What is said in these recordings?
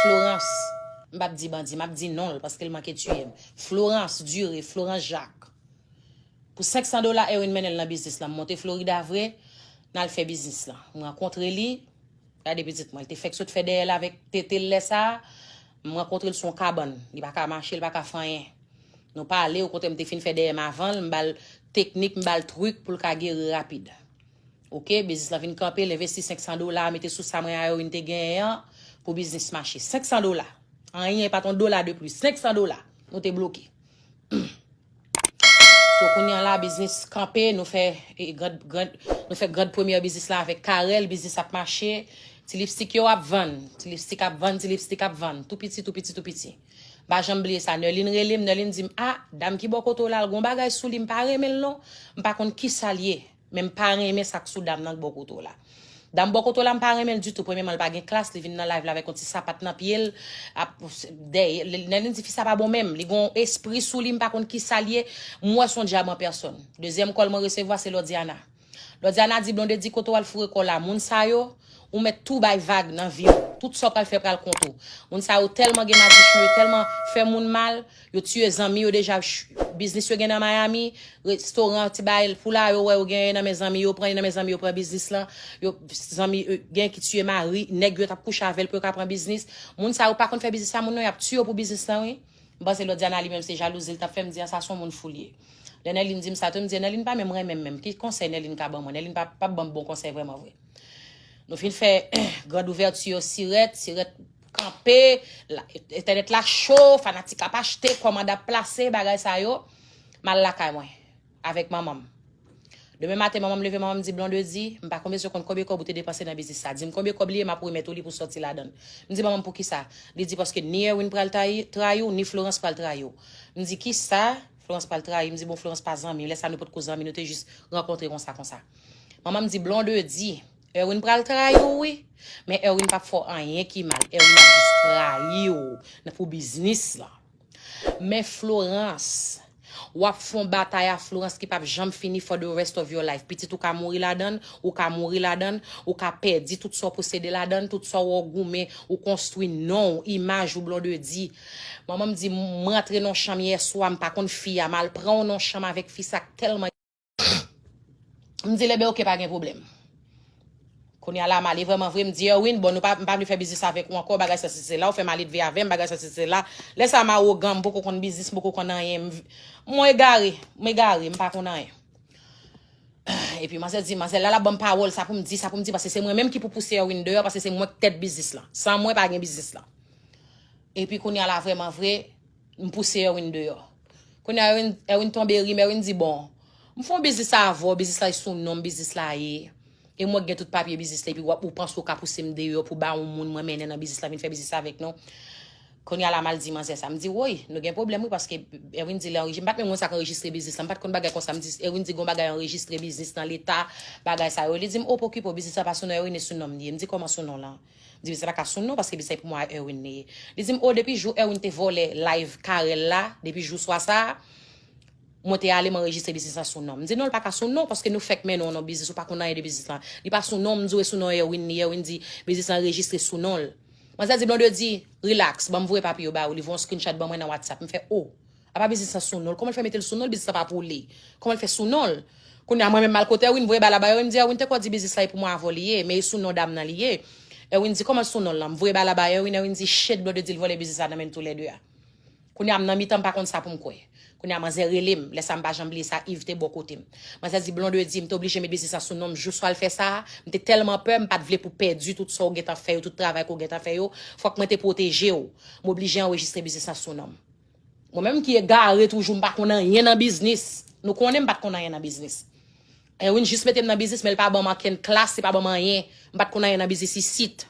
Florence, M pap di bandi, m ap di non l paske l manke tiye m. Florence, Dure, Florence Jacques, Pou 500 dola Erwin mennen l nan biznis lan. M monte Florida vre, n al fè biznis lan. M rankontre li, gade pitit mwen, l te fèk sot fè dèyè l avèk tete l lè sa a. M rankontre l sou yon kabann, li pa ka mache, li pa ka fè anyen. Nou pale, okontrè m te fin fè dèyè m avan l, m ba l teknik, m ba l trik pou l ka geri rapid. Ok, biznis lan vin kanpe, l envesti 500 dola, mete sou sa mwen a yo vin te genyen an, pou biznis mache. 500 dola. Anyen, pa t yon dola de plis. 500 dola. Nou te bloke. So kounye an la, biznis kanpe, nou fè grand premye biznis la avèk Karel, biznis ap mache, ti lipstik yo ap vann, ti lipstik ap vann, ti lipstik ap vann, tou piti, tou piti, tou piti. M pa janm bliye sa, Nèlin rele m, Nèlin di m, a, dam ki bò kote w la, l gen yon bagay sou li, m pa renmen l non, m pa konn ki sa l ye. Men m pa renmen sak sou dam nan k bò kote w la. Dam bò kote w la m pa renmen l ditou. Premyeman l pa gen klas, li vin nan live la avèk yon ti sapat nan pye l, ap dèyè lè li di fi sa pa bon menm, li gen yon espri sou li m pa konn kisa l ye, m wè son dyab an pèsòn. Dezyèm kòl mwen resevwa se Lordiana. Lordiana di Blondedy kote w al foure kò w la moun sa yo, ou mèt tou bay vag nan vi w, tout sa w pral fè pral kont ou. Moun sa yo tèlman gen madichon, yo tèlman fè moun mal, Yo tiye zanmi yo deja biznis yo gen nan miami restoran ti bagay pou la yo wè yo gen nan men zanmi yo pran nan men zanmi yo pran biznis lan yo zanmi gen ki tiye mari nèg yo tap kouche avèl pou yo ka pran biznis moun sa yo pa konn fè biznis sa moun nan yap tiye yo pou biznis lan wi m panse lòt Diana li menm se jalouzi li tap fèm di an sa son moun fou li ye lè Nèlin dim sa tou m di Nèlin pa menm renmenm menm ki konsèy Nèlin ka ban mwen Nèlin pap banm bon konsèy vrèman vre nou fin fè grand ouverture sirèt sirèt kanpe, la, entènèt la cho, fanatik ap achte, kòmand ap plase, bagay sa yo, m al lakay mwen, avèk manman m. Demen maten manman m leve, manman m di, Blondedy, m pa konbesyon konn konbyen kòb ou te depanse nan biznis sa. Di m konbyen kòb li ye, m ap remèt ou li pou w sòti ladan l. M di manman m poukisa? Li di paske ni Erwin pral tayi, trayi w, ni Florans pral trayi w. M di kisa? Florans pral trayi m. M di bon Florans pa zanmi, lè sa nou potko zanmi, nou te jis rankontre konsa konsa. Manman m di, Blondedy, Erwin pral trayiw wi, men Erwin pap fè w anyen ki mal, Erwin ap jis trayiw nan pou biznis lan. Men Florence, wap fon batay a Florence ki pap janm fini for the rest of your life, pitit ou ka mouri ladann, ou ka mouri ladann, ou ka pèdi tout sa w posede ladann, tout sa w goumen, ou konstwi non w, imaj ou Blondedy. Manman m di m, m rantre nan chanm yèswa, m pa konn fi a, m al pran w nan chanm avèk fi sa k tèlman. M di Lebe ok pa gen pwoblèm. Kounye a la m ale vrèman vre, m di Erwin bon nou pa m pa vle fè biznis avèk ou ankò bagay sa si sela, ou fè maledve avè m bagay sa si sela. Lè sa m awogan, m poko konn biznis, m poko konn anyen, m mwen egare, m egare, m pa konn anyen. Epi manzè di, manzè la l ap ban m pawòl sa pou m di, sa pou m di paske se mwen menm ki pou pouse Erwin deyò paske se mwen k tèt biznis lan. San mwen pa gen biznis lan. Epi kounye a la vrèman vre. M pouse Erwin deyò. Kounye a Erwin tonbe ri men Erwin di bon, m fè yon biznis avè w, biznis la se sou non m biznis la ye, e mwen k gen tout papye biznis la epi ou panse ou ka pouse m deyò pou ba yon moun mwen mennen nan biznis la vin fè biznis la avèk nou. Kounye a la m al di manzè sa. M di woy, nou gen pwoblèm wi paske Erwin di lè anrejistre, m pa t menm konn sa k anrejistre biznis la, m pa t konn bagay konsa. M di Erwin di gon bagay anrejistre biznis nan leta, bagay sa yo. Li di m o pokipo, biznis la pa sou non Erwin e sou non m li ye. M di kòman sou non w lan? M di m se pa Kasoun non paske li se pou mwa Erwin li ye. Li di m o depi jou Erwin te vòlè live Carel la, depi jou swa sa a, mwen te ale m anrejistre biznis la sou non m. M di non li pa ka sou non paske nou fèk mennen w nan biznis ou pa konn anyen de biznis lan. Li pa sou non m, m di w e sou non Erwin li ye, Erwin di biznis lan rejistre sou non l. Manzè di Blondedy, relax, ban m voye papye yo ba ou, li voye yon screenshot ban mwen nan whatsapp, m fè o. Apa biznis lan sou nonl. Koman l fè metel sou nonl biznis lan pa pou li. Koman l fè sou nonl. Kounya mwen menm mal kote Erwin voye bal la ba Erwin di Erwin te ko di biznis la e pou mwen avèw li ye men e sou non dam nan li ye Erwin di koman sou nonl lan m voye bal la ba Erwin Erwin di shit blode dil vòlè biznis la nan menn tou lè 2 a kounya m nan mitan m pa konn sa poum kwè kounya manzè relem lè sa m pa janm bliye sa Yves te bò kotem manzè di blonde di m te oblije met biznis la sou nonm jou swal fè sa m te tèlman pè m pat vle pou pèdi tout sa w gentan fè yo tout travay ke w gentan fè yo fòk mwen te pwotejew m oblije anrejistre biznis la sou nonm. Mwen menm ki egare toujou m pa konn anyen nan biznis. Nou konnen m pa t konn anyen nan biznis. Erwin jis mete m nan biznis men l pa ban m ankenn klas, li pa ban m anyen. M pa t konn anyen nan biznis isit.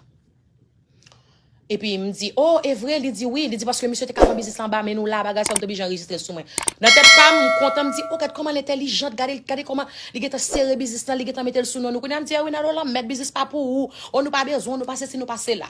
Epi m di, o, e vre? Li di, wi. Li di, paske misye te ka pran biznis la anba men nou la, bagay sa, m te oblije anrejistre l sou mwen. Nan tèt pa m, m kontan, m di, o, gad kòman l entèlijant, gade l, gade kòman li gen tan sere biznis lan, li gen tan mete l sou non nou. Kounye a m di, Erwin, alo lanmèd, biznis pa pou ou. O, nou pa bezwen w, nou pa sesi, nou pa sela.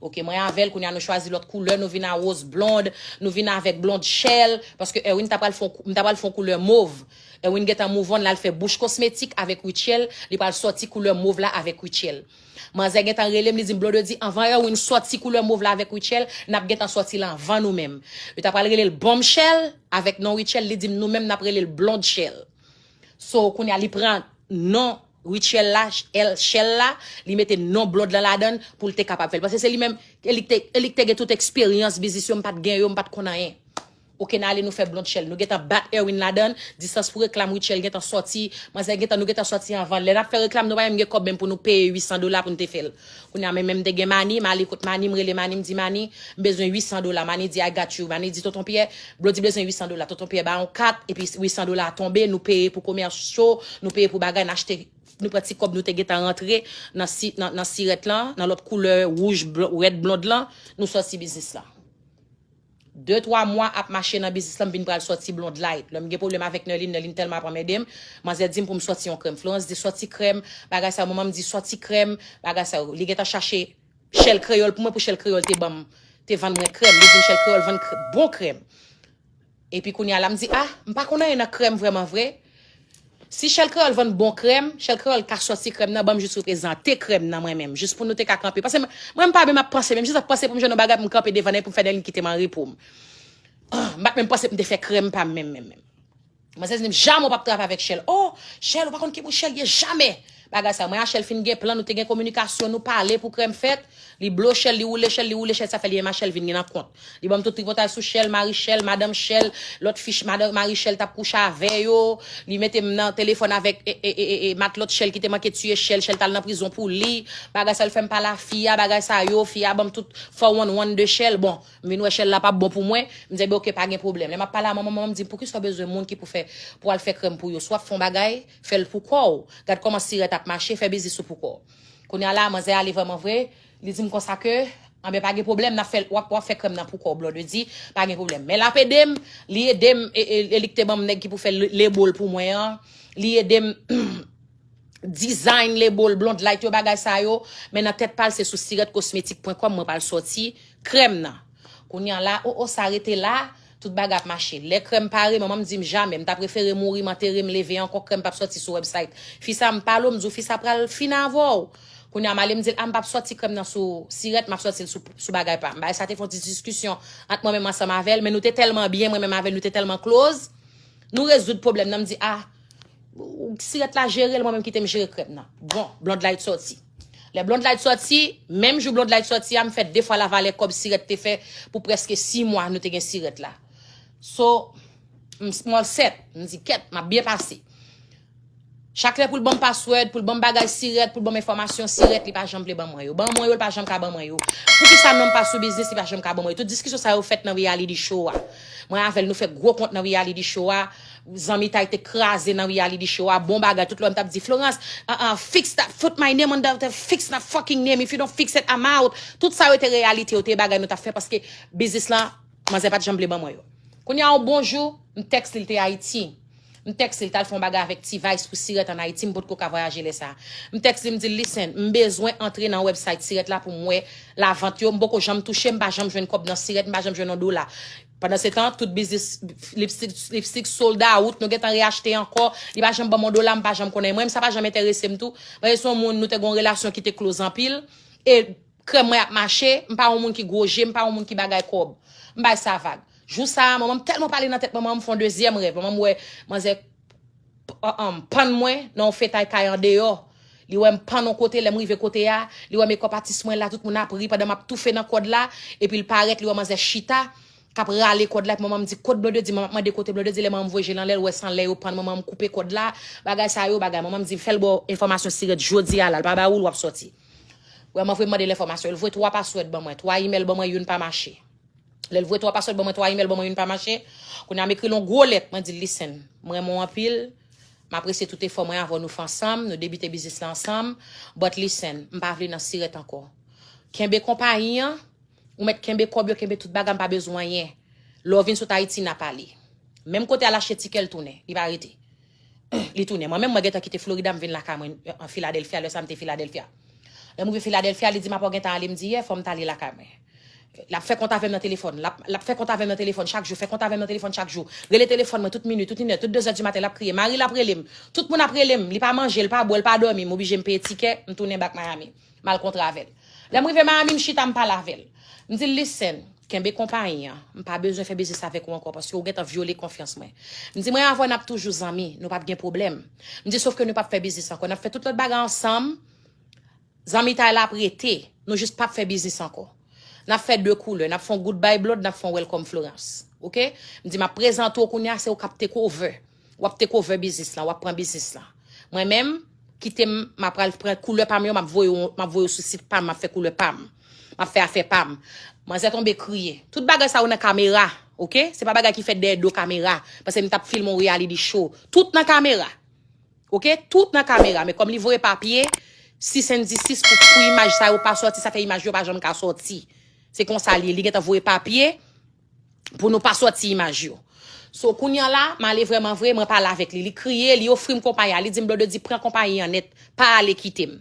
Ok mwen avèl kounya nou chwazi lòt koulè nou vin a rose blond nou vin avèk blond shell paske Erwin ta pral fon m ta pral fon koulè mov Erwin gentan move on lal fè bouch kosmetik avèk Rutshelle li pral sòti koulè mov la avèk Rutshelle manzè gentan relem li dim Blondedy anvan Erwin sòti koulè mov la avèk Rutshelle nap gentan sòti l anvan nou menm yo ta pral relel Bombshell avèk non Rutshelle li dim nou menm nap relel Blondshell so kounya li pran non Rituel la el chel la li mete non blond lan ladann poul te kapab fel paske se li menm elik te elik te gen tout experience biznis yo mpat gen yo mpat konn anyen ok nan ale nou fè blond chel nou gentan bat Erwin ladann distance pou reklam rituel gentan soti manzè gentan nou gentan soti anvan lè nap fè reklam nou pa menm gen kob menm pou nou peye 800 dola poun te fel Kounye a men men m te gen Mani, Mali kot Mani, m rele Mani m di Mani, m bezwen 800 dola, Mani di I got you, Mani di Tonton Pyè, Blodi bezwen 800 dola, Tonton Pyè ba yon kat, epi 800 dola a tonbe, nou peye pou komèsyo, nou peye pou bagay, n achte, nou pran ti kòb nou te gen tan rantre nan si, nan, nan sirèt lan, nan lòt koulè wouj, blon, rèd blond lan, nou sòti biznis lan. 2 3 mwa ap mache nan biznis lan m vin pral sòti blond light lèm gen pwoblèm avèk Nerline Nerline tèlman ap anmède m manzè di m pou m sòti yon krèm Florence di sòti krèm bagay sa yo manman m di sòti krèm bagay sa yo li gentan chache Shell kreyòl pou mwen pou Shell kreyòl te banm te vann mwen krèm li di m Shell kreyòl vann bon krèm epi kounya la m di ah m pa konn anyen nan krèm vrèman vre Si Shell Creole vann bon krèm, Shell Creole ka sòti krèm nan, banm jis reprezante krèm nan mwen menm, jis pou nou te ka kanpe. Pase mwen menm pa menm ap panse, menm jis ap panse pou m jwenn yon bagay pou m kanpe devan nèg pou m fè nèg li kite m anrepo m. Ahh, m pa t menm panse pou m te fè krèm pa m menm menm menm. Manzè di m, Jamè w pa p travay avèk Shell. Oh! Shell, ou pa konn ki moun Shell ye jamè! Bagay sa mwen achel fin gen plan nou te gen kominikasyon nou pale pou krèm fèt li blo chèl li woule chèl li woule chèl sa fè li menm achel vin gen nan kont li banm tout tripotay sou chèl mari chèl madanm chèl lòt fi madanm mari chèl tap kouche avè yo li metem nan telefòn avèk ee matlòt chèl ki te manke tiye chèl chèl tal nan prizon pou li bagay sa yo fèm pale a fi a bagay sa yo fi a banm tout fò wann wann de chèl bon m vin wè chèl la pap bon pou mwen m di ebyen ok pa gen pwoblèm lè map pale a manman manman m dim poukisa w bezwen moun ki pou fè pou al fè krèm pou yo si wap fè yon bagay Fè l pou kò w. Gad kòman sirèt ap mache, fè biznis ou pou kò w. Kounye a la, manzè ale vrèman vre, li di m konsa ke, anben pa gen pwoblèm, n ap fè, w ap, w ap fè krèm nan pou kò w Blondedy, pa gen pwoblèm. Men l ap ede m, li ede m, e, e li ki te ban m nèg ki pou fè le bol pou mwen an, li ede m design le bol Blondlight yo, bagay sa yo. Men nan tèt pa l se sou sirètkosmetik pwen kòm mwen pral sòti krèm nan. Kounye a la, o o sa rete la? Tout bagay ap mache. Lè krèm pare manman m dim jamè m ta prefere mouri m antere m leve ankò krèm pap sòti sou website fi sa m pale w m di w fi sa pral fini avè w kounye a m ale m di l a m pap sòti krèm nan sou sirèt map sòti l sou bagay pa m bagay sa te fon ti diskisyon ant mwen menm ansanm avè l men nou te tèlman byen mwen menm avè l nou te tèlman close nou rezoud pwoblèm nan m di a Sirèt la jere l mwen menm kite m jere krèm nan. Bon, Blondlight sòti. Lè Blondlight sòti, menm jou Blondlight sòti a, m fè 2 fwa lavalè kòb sirèt te fè pou prèske 6 mwa nou te gen sirèt la. So, m small set, m di kèt, m ap byen pase. Chak lè pou l ban m password, pou l ban m bagay sirèt, pou l ban m enfòmasyon sirèt, li pa janm vle ban mwen yo. Ban mwen yo, li pa janm ka ban mwen yo. Poukisa non m pa sou biznis, li pa janm ka ban mwen yo. Tout diskisyon sa yo fèt nan Reality Show a. Mwen avè l nou fè gwo kont nan Reality Show a. Zanmitay te kraze nan reality show a bon bagay tout lè m tap di Florence uh uh fix that put my name on that fix that fucking name if you don't fix it I'm out tout sa yo te reyalite yo te bagay nou tap fè paske biznis lan manzè pat janm vle ban mwen yo kounye a yon bon jou m tèks li l te Ayiti m tèks li l tal fè yon bagay avèk T-vice pou sirèt an Ayiti m potko ka vwayaje lè sa m tèks li m di l listen m bezwen antre nan website sirèt la pou m wè lavant yo m poko janm touche m pa janm jwenn kòb nan sirèt m pa janm jwenn yon dola Pandansetan, tout biznis lipstik sold out, nou gentan reachte ankò, li pa janm banm yon dola, m pa janm konnen. Mwen menm sa pa janm enterese m tou. Mwen se yon moun nou te gen yon relasyon ki te close anpil e krèm mwen ap mache, m pa yon moun ki gwo je, m pa yon moun ki bagay kòb. M bay sa vag. Jou sa a, manman m tèlman pale nan tèt manman m, m fè yon dezyèm rèv. Manman m wè manzè Pam, pann mwen nan yon fetay kay andeyò. Li wè m pann yon kote, lè m rive kote a, li wè mekòp atis mwen la, tout moun ap ri pandan m ap toufe nan kòd la, epi l parèt, li wè manzè chita, k ap rale kòd la, epi manman m di, kot Blondedy, manman ap mande kote Blondedy, lè manman m voye je l anlè, l wè san lè yo pann manman m koupe kòd la, bagay sa yo bagay, manman m di, fè l ba w enfòmasyon sirèt jodi a la, l pa ba ou l, w ap sòti. Wè manfre m mande l enfòmasyon, l voye 3 paswòd ban mwen, 3 imèl ban mwen, youn pa mache. Lèl voye 3 paswòd ban mwen 3 imèl ban mwen youn pa mache Kounye a m ekril yon gwo lèt mwen dil listen m renmen w anpil m apresye tout efò mwen avèw nou fè ansanm nou debite biznis la ansanm but listen m pa vle nan sirèt ankò kenbe konpayi an ou mèt kenbe kòb yo kenbe tout bagay m pa bezwen anyen lè w vin sot Ayiti na pale menm kote al achte tikè l tounen li pa rete li tounen mwen menm mwen gentan kite Florida m vin lakay mwen Philadelphia lè sa m te Philadelphia lè m rive Philadelphia li di m apa w gentan ale m di yè fò m ta ale lakay mwen. L ap fè kont avè m nan telefòn. L ap fè kont avè m nan telefòn chak jou, fè kont avè m nan telefòn chak jou. Rele telefòn mwen tout minui, tout inè, tout dezè dimaten l ap kriye. Mari l ap rele m. Tout moun ap rele m. Li pa manje, l pa bwè, l pa dòmi. M oblije m peye tikè, m tounen bak Miami. M al kontre avè l. Lè m rive Miami, m chita, m pale avè l. M di l, Listen, kenbe konpayi an. M pa bezwen fè biznis avèk ou ankò paske ou gentan vyole konfyans mwen. M di, Mwen avè w n ap toujou zanmi. Nou p ap gen pwoblèm. M di, Sofke nou p ap fè biznis ankò. N ap fè tout lòt bagay ansanm. Zanmitay la ap rete, nou jis pap fè biznis ankò. Nap fè 2 koulè, nap fè yon goodbye blood, nap fè yon welcome Florence. Ok? M di map prezante w kounya se ou kap take over. Wap take over biznis lan, wap pran biznis lan. Mwen menm, kite m, ma pral pran koulè pa m yo, map voye w, map voye w sou sit pa m, map fè koulè pa m. Map fè afè pa m. Manzè tonbe kriye. Tout bagay sa yo nan kamera. Ok? Se pa bagay ki fèt dèyè do kamera. Pase m tap filme yon reality show. Tout nan kamera. Ok tout nan kamera men kòm li voye papye 6 and 16 pou pou imaj sa yo pa sòti sa fè imaj yo pa janm ka sòti se konsa li li gentan voye papye pou nou pa sòti imaj yo so kounye an la male vrèman vre mwen pale avèk li li kriye li ofri m konpayi a li di m blodedy pran konpayi an nèt pa ale kite m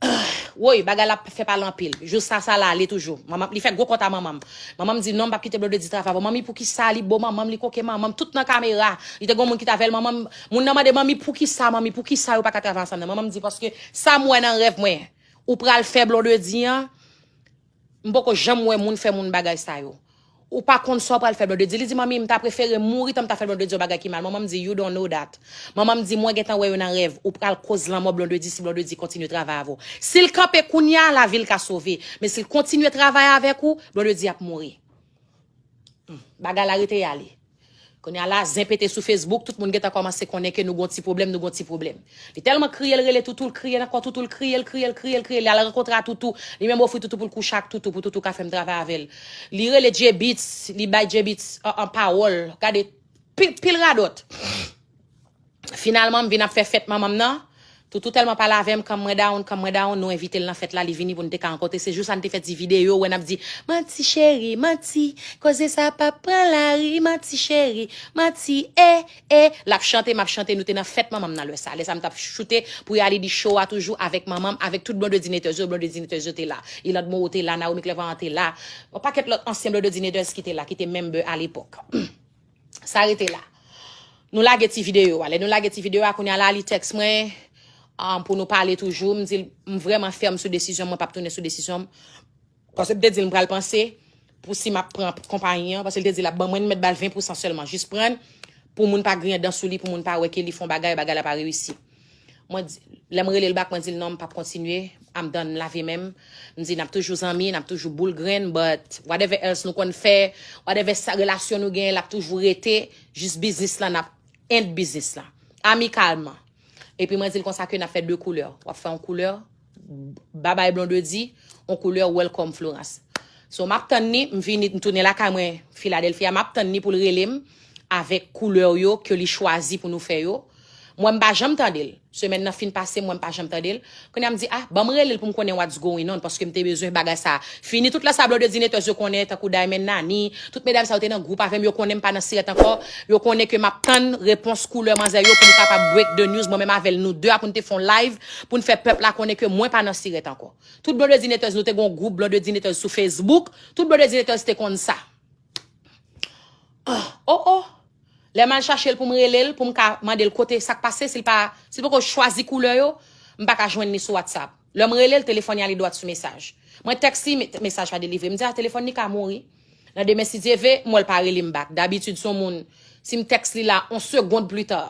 Ahh woyy bagay la ap fè pale anpil jou sa sa la ale toujou manman li fè gwo kont a manmanm manmanm di non m pap kite blonde di travay pou manmi poukisa li bo manmanm li koke manmanm tout nan kamera li te gon moun ki t avèl manmanm moun nan mande manmi poukisa manmi poukisa yo paka travay ansanm nan manmanm di paske sam wè nan rèv mwen ou pral fè blondedy an M poko janm wè moun fè moun bagay sa yo. Ou pa konn sa w pral fè Blondedy. Li di manmi m ta prefere mouri tan m ta fè Blondedy yon bagay ki mal. Manman m di you don't know that. Manman m di mwen gentan wè yo nan rèv. Ou pral koz lanmò Blondedy si Blondedy kontinye travay avè w. Si l kanpe kounya lavi l ka sove. Men si l kontinye travay avèk ou, Blondedy ap mouri. Bagay la rete ya li. Kounye a la, zen pete sou Facebook, tout moun gentan kòmanse konnen ke nou gon ti pwoblèm, nou gon ti pwoblèm. Li tèlman kriye, l rele Toutou, l kriye nan kò Toutou, l kriye, l kriye, l kriye, l kriye, li al rankontre a Toutou, li menm ofri Toutou pou l kouche ak Toutou, pou Toutou ka fè m travay avè l. Li rele Djebits, li bay Djebits, an, an pawòl, gade, pil, pil radòt. Finalman m vin ap fè fèt manman m nan, Toutou tèlman pale avè m kan mwen down, kan mwen down, nou envite l nan fèt la, li vini pou n te ka rankontre, se jou sa n te fè ti videyo wè n ap di Manti cheri, manti, koze sa pa p pran lari, manti cheri, manti ee, ee, l ap chante m ap chante, nou te nan fèt manman m nan lè sa, lè sa m t ap choute pou reyalidi show a toujou avèk manman m, avèk tout Blondedinators yo, Blondedinators yo te la, Iland Moreau te la, Naomi Clervoyant te la, yon pakèt lòt ansyen Blondedinators ki te la, ki te member a lepòk. Sa rete la. Nou lage ti videyo a. Lè nou lage ti videyo a, kounye a la li tèks mwen um, pou nou pale toujou. M di l m vreman fèm sou desizyon mwen pap tounen sou desizyon m. Pase m te di l m pral panse pou si m ap pran konpayi an. Pase l te di l ap ban mwen, m mèt ba l 20 pousan sèlman. Jis pran l pou moun pa griyen dan sou li, pou moun pa wè ke li fon bagay, bagay la pa reyisi. Mwen di, lè m rele l back mwen di l non m pap kontinye, I'm done, m lave men m. M di nap toujou zanmi, nap toujou boul grenn but whatever else nou konn fè, whatever sa relasyon nou genyen l ap toujou rete jis biznis lan ap end biznis lan. Amikalman. Epi mwen di l konsa ke nap fè 2 koulè, w ap fè yon koulè, Babay Blondedy on koulè welcome Florence. So map tann ni m vini m tounen lakay mwen Philadelphia map tann ni poul rele m avèk koulè yo ke li chwazi pou nou fè yo. M wè m pa janm tande l. Semèn nan fin pase m wè m pa janm tande l. Kounya m di ah banm rele l pou m konnen what's going on paske m te bezwen bagay sa fini tout la sa Blondedynators yo konnen tankou Diamond Nani tout medam sa yo te nan gwoup avè m yo konnen m pa nan sirèt ankò yo konnen ke map tann repons koulè manzè yo pou m kapab break the news mwen menm avè l nou 2 a pou n te fon live Pou n fè pèp la konnen ke mwen pa nan sirèt ankò. Tout blondedinetèz nou te gen yon gwoup blondedinetèz sou facebook, tout blondedinetèz te konn sa. O o! Lè m al chache l pou m rele l, pou m ka mande l kote sa k pase, si l pa, si l poko chwazi koulè yo, m pa ka jwenn li sou whatsapp. Lè m rele l, telefòn li ale dwat sou mesaj. Mwen tèks li, mesaj pa delivre. M di a, telefòn li ka mouri. Nan demen si Dye ve, m wè l pa rele m bak. Dabitid s on moun, si m tèks li la, on segond plita,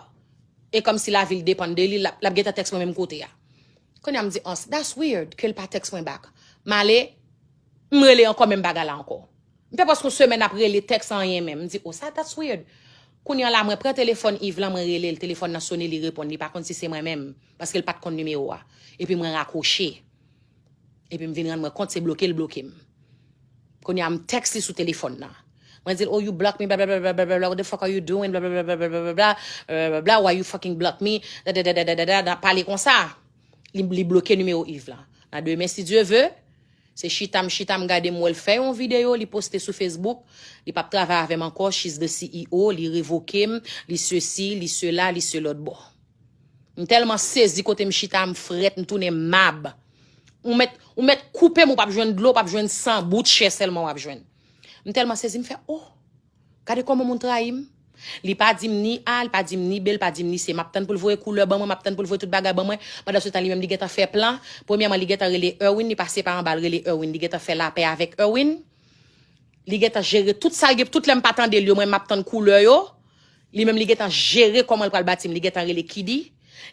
E kòm si lavi l depann de li, l ap gentan tèks mwen menm kote a. Kounye a m di, Ons, that's weird ke l pa tèks mwen back. M ale, m rele ankò menm bagay la ankò. M fè prèske yon semèn ap rele, tèks anyen menm. M di, O sa, that's weird. Kounye an la, mwen pran telefòn Iv lan, mwen rele l, telefòn nan sone, li reponn, li pa konn si se mwen menm, paske l pa t konn nimewo a. Epi mwen rakwoche. Epi m vin rann mwen kont se bloke l bloke m. Kounye a m text li sou telefòn nan. Mwen di l oh you block me blablabla what the fuck are you doing blablabla blablabla why you fucking block me dadadadadada nan pale konsa. Li, li bloke nimewo Yves lan. Nan demen si Dieu veut, se chita m chita m gade m wè l fè yon videyo li poste sou Facebook, li pap travay avè m ankò, she's the CEO, li revoke m, li sesi, li sela, li selòtbò. M telman sezi kote m chita m fret m tounen mab ou met ou met koupe m ou pap jwenn dlo pap jwenn san bout chè selman wap jwenn m telman sezi m fè oh gade koman moun trayi m li pa di m ni a li pa di m ni be li pa di m ni se map tann pou l voye koule ban mwen map tann pou l voye tout bagay ban mwen pandan se tan li menm li gentan fè plan premyèman li gentan rele Erwin li pase pa anba l rele Erwin li gentan fè lapè avèk Erwin. Li gentan jere tout sal gen tout lèm pa tandel yo mwen map tann koulè yo li menm li gentan jere komanl pral batim li gentan rele kidi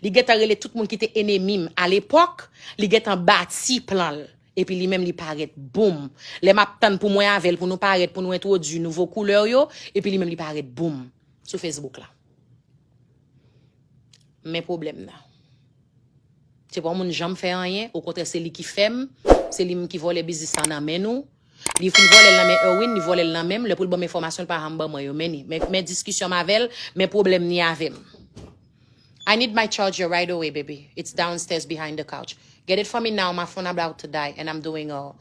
li gentan rele tout moun kite enemim alepòk li gentan bati planl epi li menm li parèt boom lè map tann pou mwen avèl pou nou parèt pou nou entwodui nouvo koulè yo epi li menm li parèt boom sou Facebook la. Men pwoblèm nan. Se pa yon moun janm fè anyen, okontrè se li ki fè m, se li menm ki vòlè biznis lan nan men nou. Li fin vòlè l nan men Erwin, li vòlè l nan men m, lè pou l ban m enfòmasyon l pa janm ban mwen yo. Men ni, men diskisyon m avè l, men pwoblèm ni avè m. I need my charger right away baby, it's downstairs behind the couch. Get it for me now, my phone about to die and I'm doing a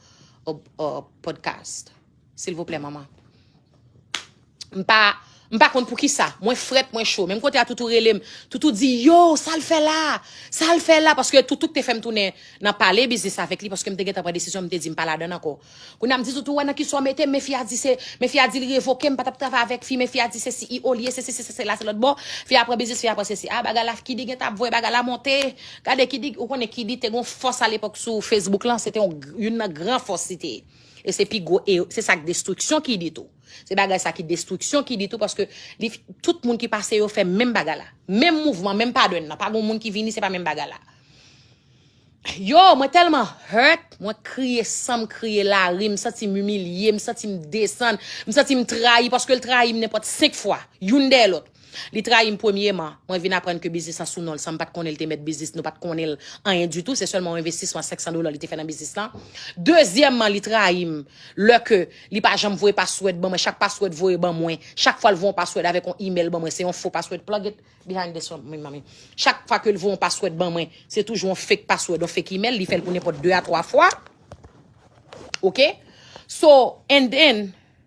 podcast. Silvouplè manman. M pa m pa konn poukisa. Mwen frèt, mwen cho. Menm kote a toutou rele m. Toutou di yo, sa l fè la? Sa l fè la? Paske toutou k te fè m tounen nan pale biznis avèk li paske m te gentan pran desizyon m te di m pa ladann ankò. Kounye a m di toutou wè nan ki sa w mete m men fi a di se men fi a di li revoke m m pa t ap travay avèk fi men fi a di se si i o li ye se si se sa se la se lòtbò. Fi a pran biznis fi a pran sesi. A bagay la Kiddy gentan ap voye bagay la monte. Gade Kiddy ou konnen Kiddy te gen yon fòs alepòk sou Facebook lan se te yon youn nan gran fòs li te ye. E se pi gwo ere, se sa k destriksyon ki di tou. Se bagay sa ki destriksyon ki di tou paske li tout moun ki pase yo fè menm bagay la. Menm mouvman, menm pattern nan. Pa gon moun ki vini se pa menm bagay la. Yo, mwen tèlman hurt, mwen kriye san m kriye lari, m santi m imilye, m santi m desann, m santi m trayi paske l trayi m nenpòt senk fwa, youn dèyè lòt. Li trayim premyeman, mwen vin aprann ke biznis lan sou nonl sanm pat konnenl te mèt biznis, nou pat konnenl anyen ditou, se sèlman yon envestisman 500 dola li te fè nan biznis lan. Dezyèmman li trayim lè ke li pa janm voye password ban mwen, chak password voye ban mwen, chak fwal voye yon password avèk yon email ban mwen se yon fo password, plug it behind this one mommy, chak fwa kel voye yon password ban mwen se toujou yon fake password, yon fake email, li fèl pou nenpòt 2 a 3 fwa ok, so and then.